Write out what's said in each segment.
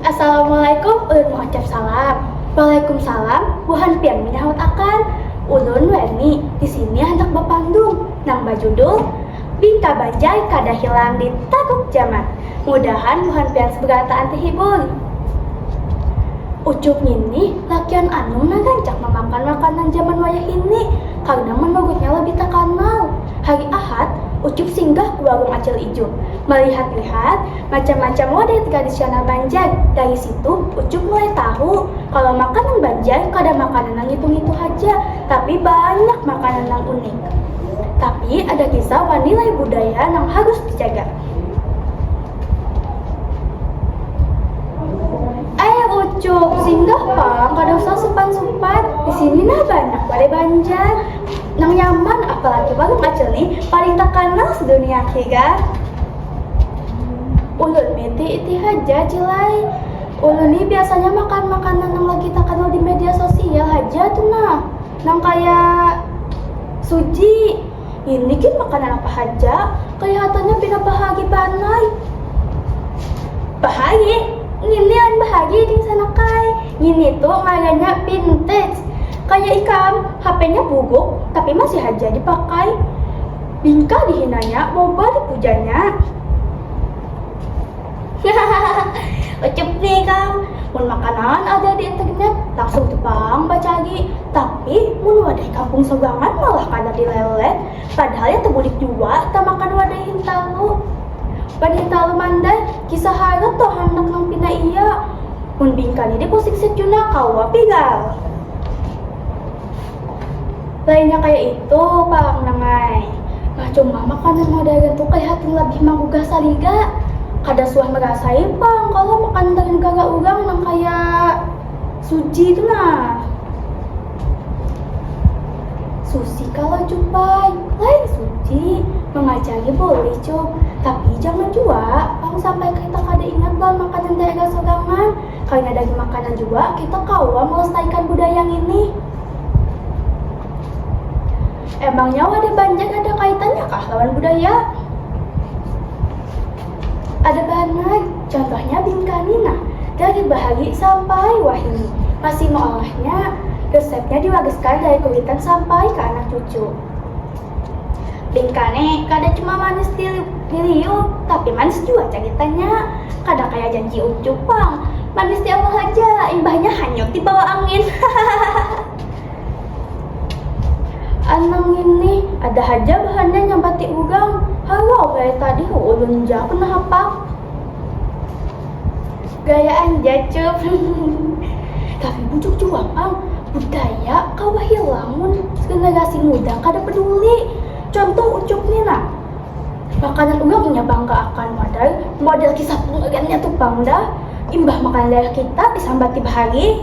Assalamualaikum ulun maucap salam. Waalaikumsalam buhan pian manyahut akan. Ulun wani di sini handak bapandung nang bajudul Bingka Banjai Kada Hilang di Taguk Jaman. Mudahan buhan pian seberataan tehibur. Ucup ngini lakian anum nang rancak mamakan makanan jaman wayahini karna manurutnya labih takanal. Hari Ahad, Ucup singgah ke warung Acil Ijuk. Melihat-lihat macam-macam wadai tradisional Banjar. Dari situ, Ucup mulai tahu kalau makanan Banjar kada makanan nang ngitu-ngitu haja, tapi banyak makanan nang unik. Tapi ada kisah wan nilai budaya nang harus dijaga. Ae Ucup, singgah pang, kada usah supan-supan. Di sini nah banyak wadai Banjar. Nang nyaman apalagi warung acil ni paling takanal sedunia hi ga. Ulun ni ti iti haja cil ai, ulun ni biasanya makan makanan nang lagi takanal di media sosial haja tu nah, nang kaya suji, ini gin makanan apa haja, kelihatannya pina bahagi banar ai. Bahagi? Ngini lain bahagi dingsanak ai. Ngini tu ngarannya vintage. Kaya ikam, hapenya buguk tapi masih haja dipakai. Bingkah dihinanya mau bari pujanya. Hahaha, ucup ni ikam. Mun makanan ada di internet, langsung tu pang bacari. Tapi, mun wadai kampung sabangan malah kada dilelet. Padahal ya tebulik jua tamakan wadai hintalu. Wan hintalu mandai. Kisah harat toh handak nang pina iya. Mun bingkani deh ko siksit jua nah kawa pigal. Lainnya kaya itu pang nang ai. Nah cuma makanan modern tu kelihatin labih manggugah saliga. Kada suah merasai pang kalo makanan dari negara urang nang kaya. Suci tu nah. Susi kalau cumbai, lain suci. Mengacari boleh cum, tapi jangan jua. Kalau sampai kita kada ingat bahan makanan daerah sorangan, karena dari makanan jua kita kawa melestarikan budaya ini. Emangnya wadah Banjar ada kaitannya kah lawan budaya? Ada bahan mulai, contohnya bingkani nah, gadir bahagi sampai wahini. Masih maolahnya, resepnya diwagaskan dari kuitan sampai ka anak cucu. Bingkani kada cuma manis diliuk, tapi manis jua cagitannya. Kada kaya janji ucup pang, manis di awal haja, imbahnya hanyut di bawah angin. Anang ngini ada haja bahannya nyabati urang. Halau gaya tadi hu ulun ja kena hapak. Gayaan ja cup. Tapi bujur jua pang, budaya kawa hilang mun generasi muda kada peduli. Contoh ucup ni nah. Makanan urang inya bangga akan model, model kisah pengeriannya tu pang dah. Imbah makanan daerah kita disambati bahari.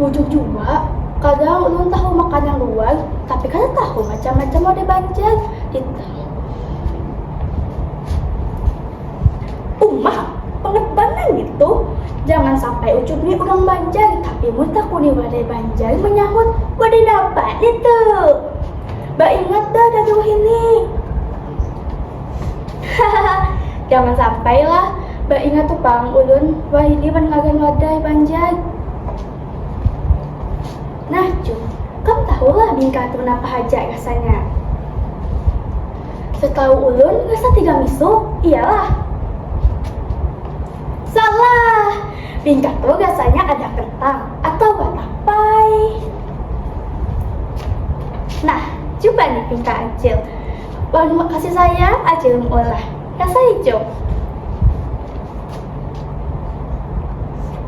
Bujur jua, kadang ulun tahu makanan luar, tapi kada tahu macam-macam mode Banjar. Umah, banget banar nitu. Jangan sampai ucup ni urang Banjar, tapi mun takuni wadai Banjar menyahut, wadai napa nitu? Baingat dah dari wahini. Jangan sampai lah, baingat tu pang ulun, wahini wan ngaran wadai panjai. Nah Cu, kam tahu lah bingkah tu napa haja rasanya? Setahu ulun rasa tiga misu, iyalah. Salah! Bingka tu gasanya ada kentang atawa tapai. Nah, cuba ni bingka acil. Wan makasih sayang acil meulah. Rasa icum.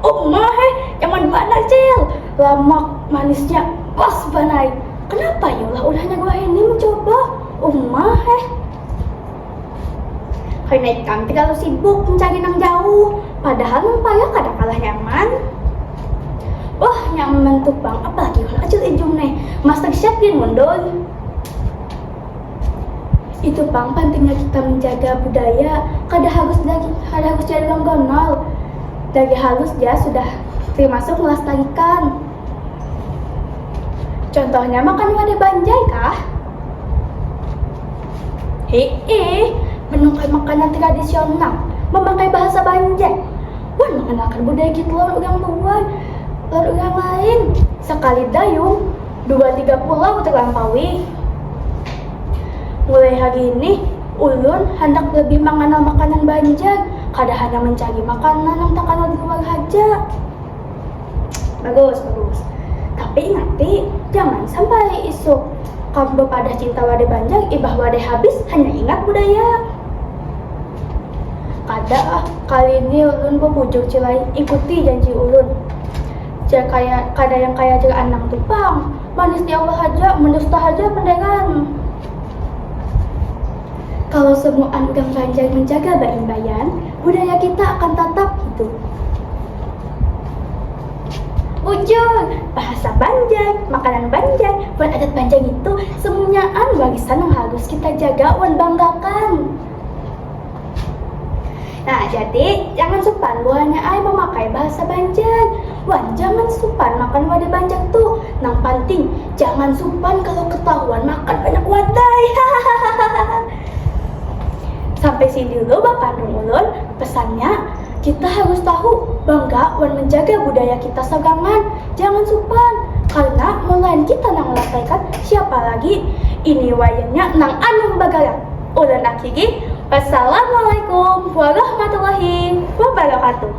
Uma he, nyaman banar acil. Lamak, manisnya pas banai. Kenapa ya ulah-ulahnya gua ini mencoba? Uma he. Hina ikam ti kalu sibuk mencari nang jauh, padahal nang payah kada kalah nyaman. Wah, nyaman tu pang, apalagi wan acil ijum ne, masa siap gin mun doi. Itu pang pentingnya kita menjaga budaya, kada harus dari, kada harus jadi orang Donald. Dari halus ja sudah termasuk melestarikan. Contohnya makan wadah banjai kah? Heeh, menungkai makanan tradisional, memakai bahasa Banjar, wan mengenalkan budaya kita lawan orang luar, lawan orang lain. Sekali dayung, dua tiga pulau terlampaui. Mulai hari ini, ulun handak lebih mengenal makanan Banjar, kada hanya mencari makanan yang terkenal di luar haja. bagus bagus tapi nanti jangan sampai isuk kamu bepadah cinta wadah banjang ibah wadah habis hanya ingat budaya kada ah kali ini ulun bebujuk cilai ikuti janji ulun ja kaya kada yang kaya cil anang tu pang manis di awal haja mendusta haja pendengan kalau semuaan udah banjang menjaga baimbaian budaya kita akan tatap hidup. Ujung, bahasa Banjar, makanan Banjar, wan adat Banjar itu semunyaan warisan nang harus kita jaga wan banggakan. Nah, jadi jangan supan buahnya ay memakai bahasa Banjar. Wan, jangan supan makan wadah Banjar tuh. Nang penting, jangan supan kalau ketahuan makan banyak wadai. Sampai sini dulu bakandung ulun, pesannya kita harus tahu bangga wan menjaga budaya kita sabangan, jangan supan, karena mulahan kita nang melestarikan siapa lagi, ini wayahnya nang anum bagarak, ulun akhiri, wassalamualaikum warahmatullahi wabarakatuh.